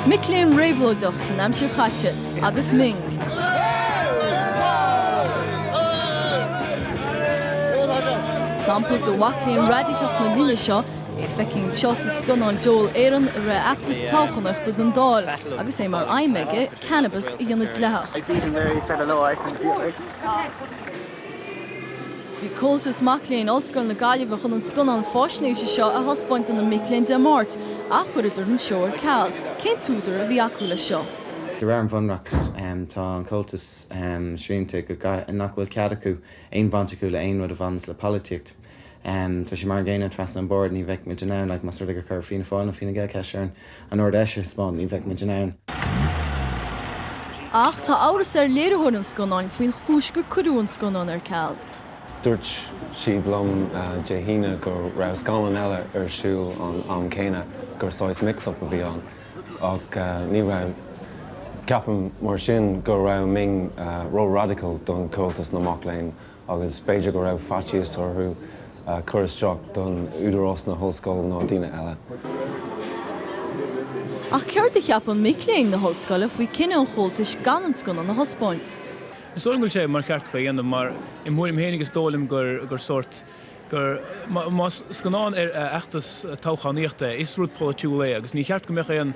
Mic léinn réabhlóideach san aimsir chaite agus Ming. Sampla de mhac léinn raidiceach na linne seo é. Feiceann tú sa scannán Dole Éireann é i rith fheachtas toghchánaíochta don Dáil agus é mar aidhm aige cannabas a dhéanamh dleathach. Bhí Comhaltas Mac Léinn Ollscoil na Gaillimhe chun an scannán fáisnéise seo a thaispeáint do na mic léinn Dé Máirt ach chuireadar an seó ar ceal. Cén t-údar a bhí acu leis seo? De réir an Bhunreacht, tá an Comhaltas srianta go nach bhfuil cead acu aon bhaint acu le haon rud a bhaineas le polaitíocht. Tá sé mar an gcéanna trasna an board, ní bheadh muid in ann, like, más rud é gur chuir Fianna Fáil nó Fine Gael ceist orainn an Ard-Fheis a thaispeáint, ní bheadh muid in ann. Ach tá amhras ar léiritheoir an scannáin faoin chúis gur cuireadh an scannán ar ceal. Dúirt siad liom Dé hAoine go raibh scannán eile ar siúl ag an am céanna, gur saghas mix-up a bhí ann. Ach ní raibh. Ceapaim, mar sin, go raibh Ming ró-radical don Comhaltas na Mac Léinn. agus b'fhéidir go raibh faitíos orthu cur isteach don Údarás na hOllscoile nó daoine eile. Ach céard a cheapann mic léinn na hOllscoile faoi cinneadh an Chomhaltais gan an scannán a thaispeáint? Is dóigh liom go bhfuil sé mícheart acu é a dhéanamh mar i mo thuairim féin is dóigh liom gur sórt gur más scannán ar fheachtas toghchánaíochta is rud polaitiúil é agus ní cheart go mbeadh aon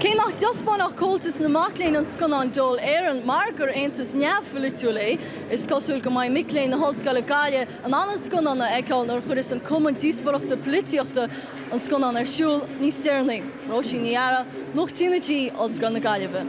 Cé nach dtaispeánfadh Comhaltas na Mac Léinn an scannán Dole Éireann mar gur aontas neamhpholaitiúil é, is cosúil go mbeidh mic léinn na hOllscoile i nGaillimh in ann an scannán a fheiceáil nuair a chuirfeas an Cumann Díospóireachta Polaitíochta an scannán ar siúl níos deireanaí. Róisín Ní Fhearraigh, Nuacht TnaG, Ollscoil na Gaillimhe.